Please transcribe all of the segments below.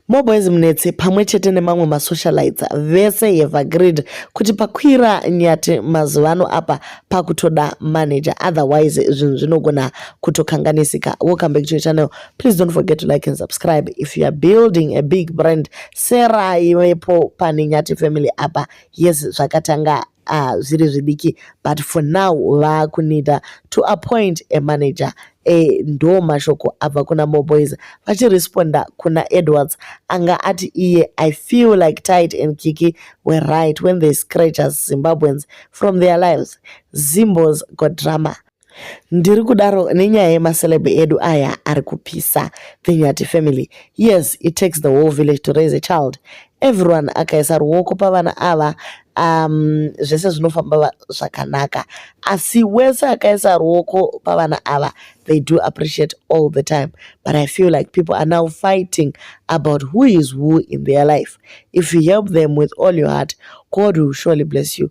Moboys Munetsi pamwe chete nemamwe masocialites vese have agreed kuti pakwira nyati mazuvano apa pakutoda manager otherwise zvinhu zvinogona kutokanganisika. Welcome back to your channel. Please don't forget to like and subscribe if you are building a big brand. Sera iwepo pane nyati family apa. Yes zvakatanga ah zviri zvidiki but for now vakunida to appoint a manager e ndo mashoko abva kuna moboys vachiresponda kuna edwards anga ati iye i feel like tight and kiki were right when they scratch us zimbabweans from their lives zimbos got drama ndiri kudaro nenyaya yemaceleb edu aya ari kupisa the nyati family yes it takes the whole village to raise a child everyone akaisa ruoko pavana ava um, zvese zvinofamba zvakanaka asi wese akaisa ruoko pavana ava they do appreciate all the time but i feel like people are now fighting about who is who in their life if you help them with all your heart god will surely bless you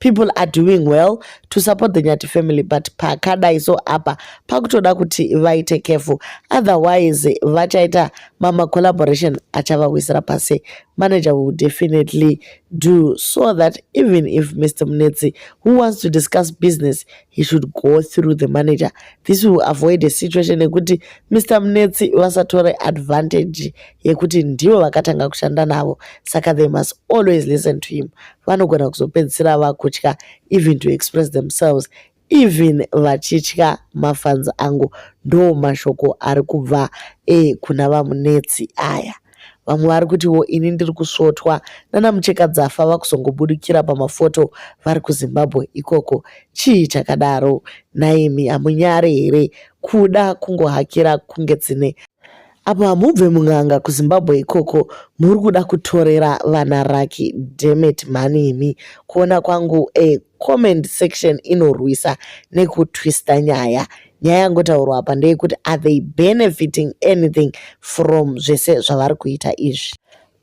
people are doing well to support the nyati family but pakadai so apa pakutoda kuti vaite careful otherwise vachaita mama collaboration achavawisira pasi manager will definitely do so that even if mr munetsi who wants to discuss business he should go through the manager this will avoid a situation yekuti mr munetsi vasatore advantage yekuti ndivo vakatanga kushanda navo saka they must always listen to him vanogona kuzopedzisira vakutya even to express themselves even vachitya mafanzi angu ndo mashoko ari kubva e kuna vamunetsi aya vamwe vari kutiwo ini ndiri kusvotwa nana muchekadzafa vakuzongobudikira pamafoto vari kuzimbabwe ikoko chii chakadaro naimi hamunyare here kuda kungohakira kunge dzine apo hamubve mun'anga kuzimbabwe ikoko muri kuda kutorera vana raki demet mhani imi kuona kwangu e comment section inorwisa nekutwista nyaya nyaya yangotaurwa apa ndeyekuti are they benefiting anything from zvese zvavari kuita izvi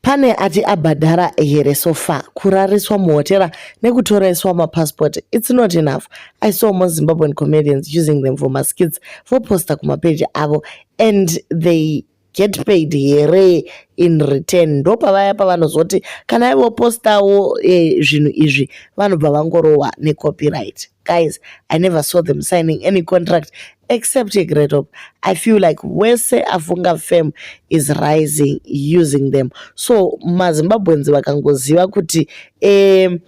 pane ati abhadhara here so far kurariswa muhotera nekutoreswa mapassport its not enough i saw more zimbabwean comedians using them for maskits voposta kumapeji avo and they get paid here in return ndopavaya pavanozoti kana ivo postawo eh, zvinhu izvi vanobva vangorohwa necopyright guys i never saw them signing any contract except yegreat hope i feel like wese afunga fam is rising using them so mazimbabweans vakangoziva kuti um,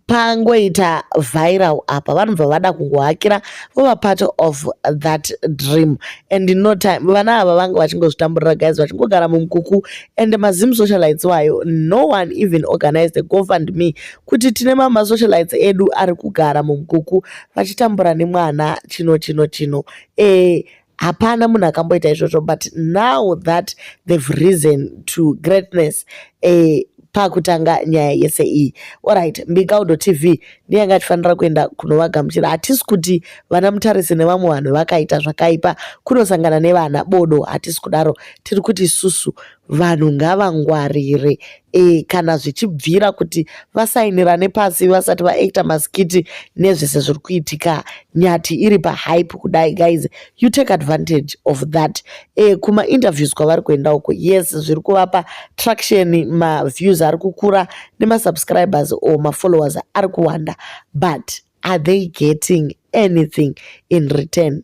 pangoita viral apa vanobva vada kungohakira vova part of that dream and no time vana ava vanga vachingozvitamburira guys vachingogara mumukuku and mazim socialites wayo no one even organized a gofund me kuti tine mama socialites edu ari kugara mumukuku vachitambura nemwana chino chino chino e hapana munhu akamboita izvozvo but now that they've risen to greatness eh, pakutanga nyaya yese iyi orit mbikaudo tv ndiyanga achifanira kuenda kunovagamuchira hatisi kuti vana mutarisi nevamwe vanhu vakaita zvakaipa kunosangana nevana bodo hatisi kudaro tiri kuti isusu vanhu ngavangwarire e, kana zvichibvira kuti vasainirane pasi vasati vaacta maskiti nezvese zviri kuitika nyati iri pahype kudai guys you take advantage of that e, kumainterviews kwavari kuenda uko yes zviri kuvapa traction maviews ari kukura nemasubscribers or mafollowers ari kuwanda but are they getting anything in return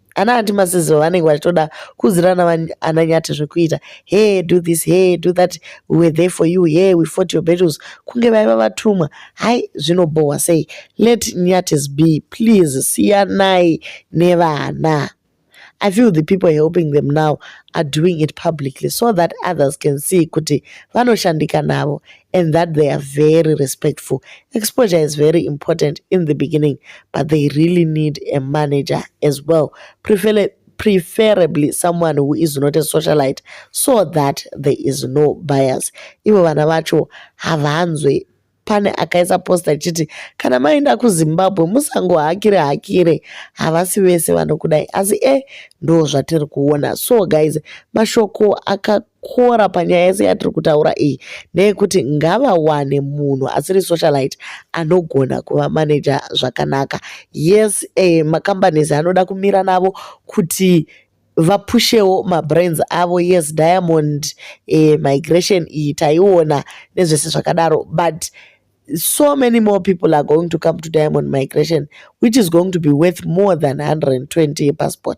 ana anti masizo vanenge vachitoda kuuzirana ana nyati zvekuita hey do this hey do that we were there for you hey we fought your battles kunge vaiva vatumwa hai zvinobhohwa sei let nyatis be please siyanai nevana I feel the people helping them now are doing it publicly so that others can see kuti vanoshandika navo and that they are very respectful. Exposure is very important in the beginning, but they really need a manager as well, preferably, preferably someone who is not a socialite so that there is no bias. Ivo vana vacho havanzwe pane akaisa posta achiti kana maenda kuzimbabwe musangohakire hakire havasi vese vanokudai asi e eh, ndo zvatiri kuona so guys mashoko aka zvakakora panyaya yese yatiri kutaura iyi ndeyekuti ngavawane munhu asiri socialite anogona kuva manager zvakanaka yes eh, macompanies anoda kumira navo kuti vapushewo mabrands avo yes diamond eh, migration iyi taiona nezvese zvakadaro but so many more people are going to come to diamond migration which is going to be worth more than 120 yepassport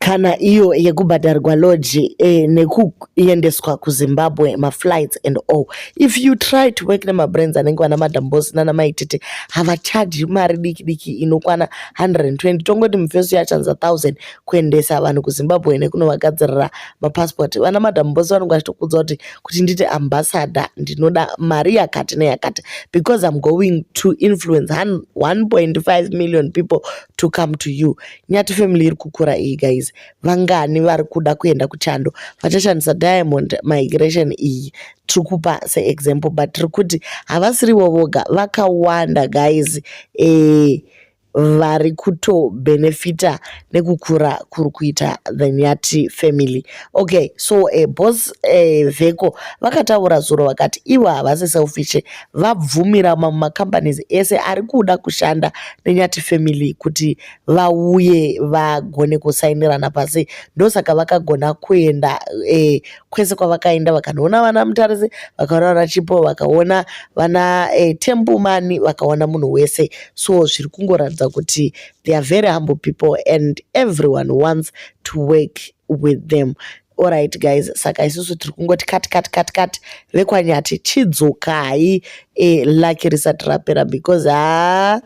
kana iyo yekubhadharwa lodge eh, nekuendeswa kuzimbabwe maflights and all if you try to work nemabrains anenge vana madam bos nana maitete havachaji mari diki diki inokwana 120 tongoti mufesi yachanza 1000 kuendesa vanhu kuzimbabwe nekunovagadzirira mapassport vana madam bos vanenge vachitokudza kuti kuti ndite ambassador ndinoda mari yakati neyakati because im going to influence 1.5 million people to come to you Nyati family iri kukura iyi guys. Vangani vari kuda kuenda kuchando vachashandisa Diamond Migration iyi tiri kupa seexample but tiri kuti havasirivo voga vakawanda guys eh, vari kutobenefita nekukura kuri kuita the nyati family okay so uh, boss uh, veko vakataura zuro vakati ivo havasi selfish vabvumira mamwe macompanies ese ari kuda kushanda nenyati family kuti vauye vagone kusainirana pasi ndosaka vakagona kuenda e, kwese kwavakaenda vakanoona vana mutarisi vakaona vana chipo vakaona vana e, tembumani vakaona munhu wese so zviri kungoratidza kuti they are very humble people and everyone wants to work with them orit guys saka isusu tiri kungoti kati kati kati kati vekwanyati chidzokai e, laki risati rapera because haa ah,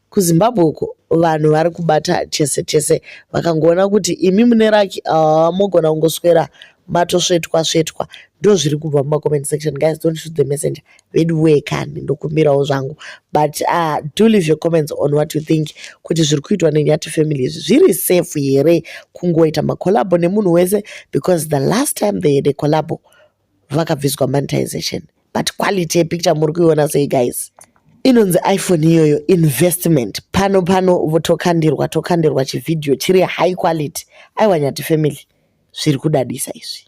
KuZimbabwe uko vanhu vari kubata chese chese vakangoona kuti imi mune raki aa mogona kungoswera matosvetwa svetwa ndozviri kubva mumacomment section guys don't shoot the messenger veduwee kani ndokumbirawo zvangu but uh, do leave your comments on what you think kuti zviri kuitwa nenyati family izvi zviri safe here kungoita macolabo nemunhu wese because the last time they had a colabo vakabviswa monetization but quality yepicture muri kuiona sei guys inonzi iphone iyoyo investment pano pano votokandirwa tokandirwa chivhidhiyo chiri high quality aiwa nyati family zviri kudadisa izvi